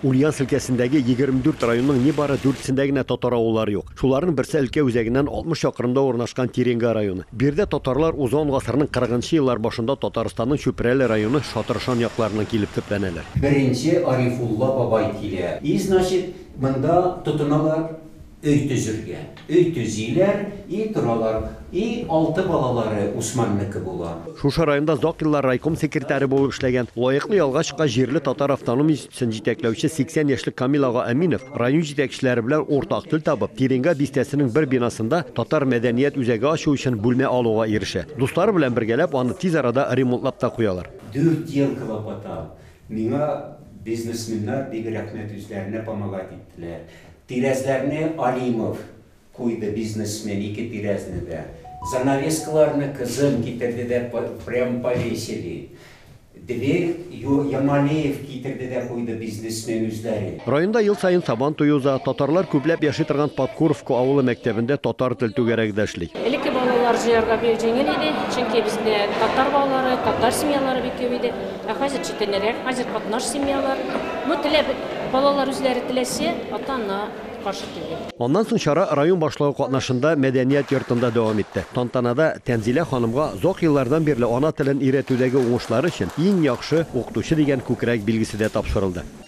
Ульяновск өлкәсендәге егерме дүрт районның нибары дүртсендә генә татар авыллары юк. Шуларның берсе өлкә үзәгеннән алтмыш чакрымда урнашкан Тиренга районы. Биредә татарлар узган гасырның кырыгынчы еллар башында Татарстанның Чүпрәле районы Шатыршан якларыннан килеп төпләнәләр. Беренче Арифулла бабай килә. И, значит, монда тотыналар. Өй төзергә. Өй төзиләр, и торалар, и алты балалары Усманнеке була. Шушы районда озак еллар райком секретаре булып эшләгән, лаеклы ялга чыккач җирле татар автоном институсын җитәкләүче 80 яшьлек Камил ага Әминов район җитәкчеләре белән уртак тел табып, Тиренга бистәсенең бер бинасында татар мәдәният үзәге ачу өчен бүлмә алуга ирешә. Дуслары белән бергәләп аны тиз арада ремонтлап та куялар. Дуртьенко лапота, миңа бизнесменнар бик рәхмәт, үзләренә помогать иттеләр. Тирәзләрне Алимов куйды, бизнесмен, ике тирәзне дә. Занавескаларны кызым китерде дә прям повесили. Дверь Ямалеев китерде дә куйды, бизнесмен үзләре. Районда ел саен Сабан туе уза. Татарлар күпләп яши торган Подкуровка авылы мәктәбендә татар тел түгәрәге дә эшли. Элекке балалар җыярга бик җиңел иде, чөнки бездә татар балалары, татар семьялары бик күп иде. Ә хәзер читенерәк, хәзер катнаш семьялар. Ну, теләп, балалар үзләре теләсә, ата-ана каршы түгел. Аннан соң чара район башлыгы катнашында мәдәният йортында дәвам итте. Тантанада Тәнзилә ханымга озак еллардан бирле ана телен өйрәтүдәге уңышлары өчен Иң яхшы укытучы дигән күкрәк билгесе дә тапшырылды.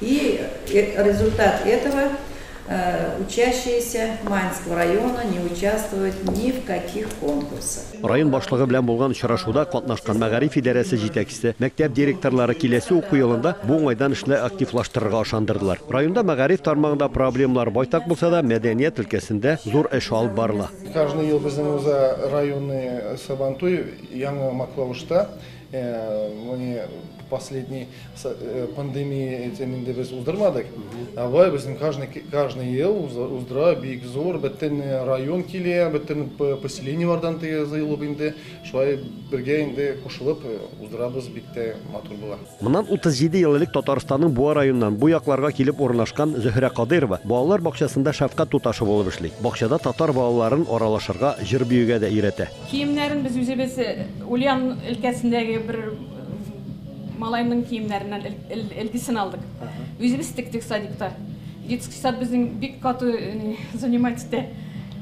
И результат этого учащиеся Маньского района не участвуют ни в каких конкурсах. Район башлыгы белән булган очрашуда катнашкан мәгариф идарәсе җитәкчесе, мәктәп директорлары киләсе уку елында бу уңайдан эшне активлаштырырга ышандырдылар. Районда мәгариф тармагында проблемалар байтак булса да, мәдәният өлкәсендә зур эш алып барыла. Каждый ел безнең Уза районы Сабантуй Яңа Маклавышта Моны последний э, пандемия этим инде без уздырмадык. А бай безнең каждый каждый ел уздыра бик зур бөтен э, район килә, бөтен поселениеләрдән тыелып инде шулай бергә инде кушылып э, уздырабыз бик тә матур була. Моннан 37 ел элек Татарстанның Буа районыннан бу якларга килеп урнашкан Зөһрә Кадыйрова балалар бакчасында шәфкать туташы булып эшли. Бакчада татар балаларын аралашырга, җыр биюгә дә өйрәтә. Киемнәрен без үзебез Ульян өлкәсендәге бер малайның киемнәреннән элгесен алдык. Үзебез тектек садикта. Детский сад безнең бик каты занимать итә.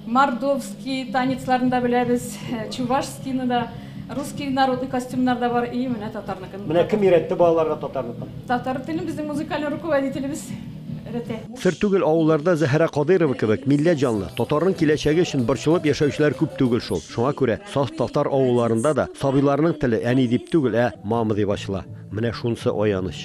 Мордовский танецларын да беләбез, чувашскийны да, русский народный костюмнар да бар, и менә татарныкын. Менә кем өйрәтте балаларга татарныкын? Татар телен безнең музыкальный руководителебез өйрәтә. Сер түгел, авылларда Зәһрә Кадыйрова кебек милләт җанлы, татарның киләчәге өчен борчылып яшәүчеләр күп түгел шул. Шуңа күрә саф татар авылларында да сабыйларның теле әни дип түгел, ә мама дип ачыла. Менә шунысы аяныч.